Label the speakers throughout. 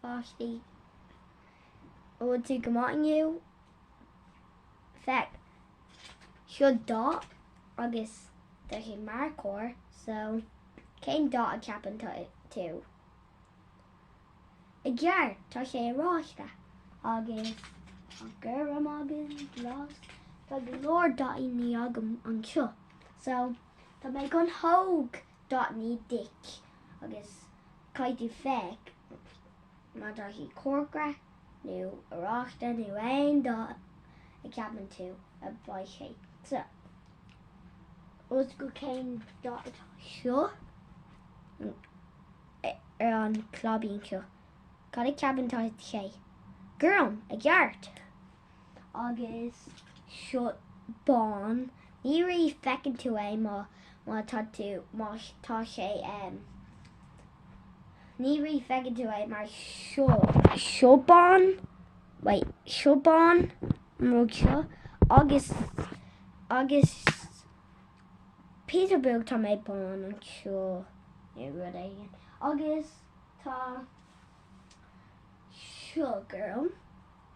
Speaker 1: pháistí. Bhfuil tú go maith inniu? Féach. Seo dath agus tá sé marcóir so cén dath a ceapann tú? I gceart tá sé oráiste agus tá gorm agam, glas, tá go leor dathannaí agam anseo so tá mé chun thóg. Dathannaí duit agus caithfidh tú feic má tá sé corcra nó oráiste nó aon dath a ceapann tú a bheidh sé so os go cén dath atá seo ar an claibín seo. Cad a ceapann tá sé? Gorm, i gceart! agus seo bán, ní rí feiceann tú é má má tá tú má tá sé ann, ní rí feiceann tú é mar seo seo bán, wait, seo bán an rud seo agus agus píosa beag tá méid bán anseo nó rud éigin agus tá seo gorm.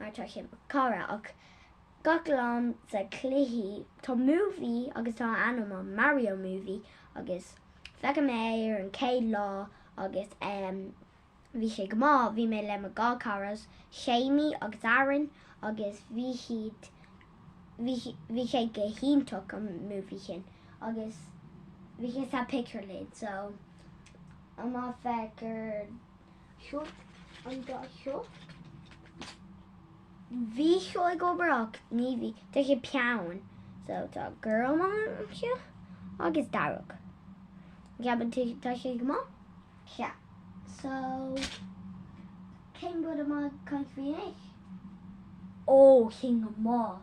Speaker 1: mar tá sé mar cara ach gach lá sa cluichí tá movie agus tá a ainm an Mario Movie agus feic mé é ar an chéad lá agus em bhí sé go maith bhí mé le mo dhá caras Séimí agus Aaron agus bhí siad bhí bhí sé go hiontach an movie sin agus bhí sé sa pictiúrlann so an-mhaith féach ar seo an dá seo. Bhí seo ag obair ach ní bhí tá sé peann so tá gorm anseo agus dearg. Ceapann tú tá sé go maith? Sea. So cén rud atá mé chun tóg anois? Ó sin go maith.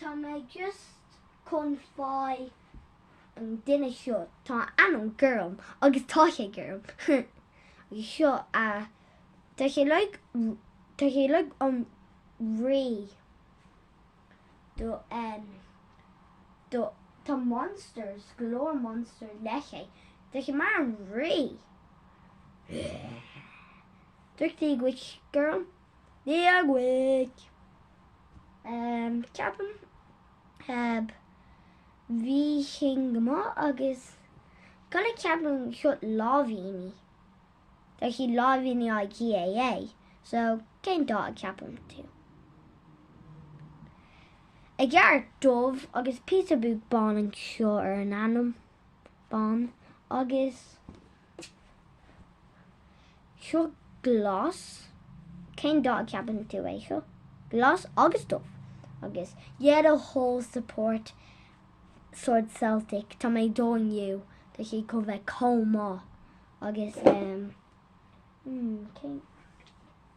Speaker 1: Tá mé just chun fáil an duine seo, tá a ainm gorm agus tá sé gorm agus seo a, tá sé like, tá sé like an rí do em, do, tá monsters, go leor monsters leis sé, tá sé mar an rí. Dúirt sí go bhfuil sé gorm Eagraigh, ceapaim. Bhí sin go maith agus cad a ceapann seo láimhíní. Tá siad láimhíní IKEA so cén dath a ceapann tú? I gceart dubh agus píosa beag bán anseo ar an ainm. Bán agus. Seo glas. Cén dath a ceapann tú é seo? Glas agus dubh. Agus le do thoil support sword Celtic. Tá mé ag dul inniu. Tá sé go bheith comh maith. Agus ehm, hmm, cén...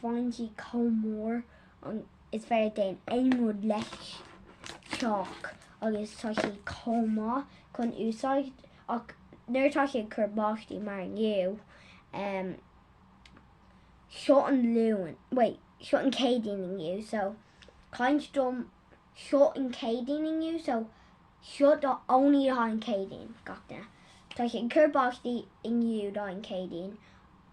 Speaker 1: phointí chomh mór is féidir déan aon rud leis, teach agus tá sé chomh maith chun úsáid ach nuair atá sé ag cur báistí mar inniu, em, seo an Luan, wait, seo an Céadaoin inniu, so, caint dom, seo an Céadaoin inniu, so, seo the only atá an Céadaoin gach duine, tá sé ag cur báistí inniu, tá an Céadaoin.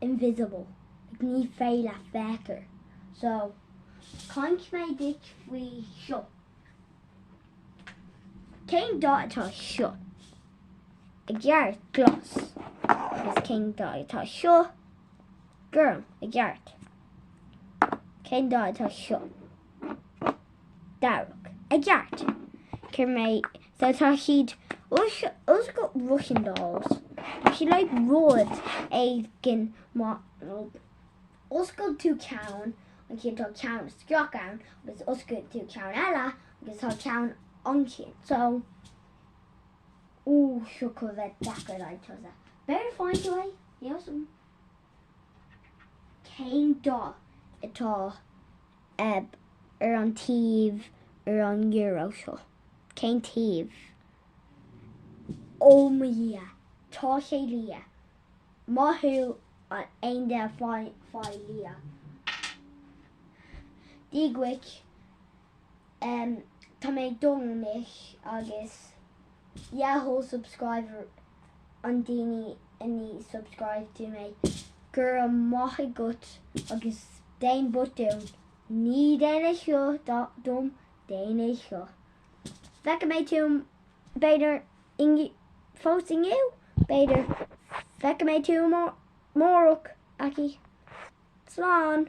Speaker 1: invisible, like ní féidir leat feiceáil so caint mé duit faoi seo cén dath atá seo i gceart glas is cén dath atá seo gorm i gceart cén dath atá seo dearg i gceart cur mé So tá siad oscailt Russian dolls. Tá siad like rud éigin má oscail tú ceann ansin tá ceann isteach ann agus oscail tú ceann eile agus tá ceann ansin. So Ooh, seo go bheith deacair le tusa. Better find a way. Yes. Cén dath atá eb ar an taobh ar an euro seo? Cén taobh? Ó mo dhia, tá sé liath! Maith thú aon duine fáil liath. Dia dhuit. Em tá mé ag dul amach agus le do thoil subscriber an daoine a ní subscribe do mé. Go raibh maith agat agus déan but don't. Ná déan é seo dom déan é seo. Feicfidh mé tú b'fhéidir inniu fós inniu b'fhéidir feicfidh mé tú amárach okay. Slán.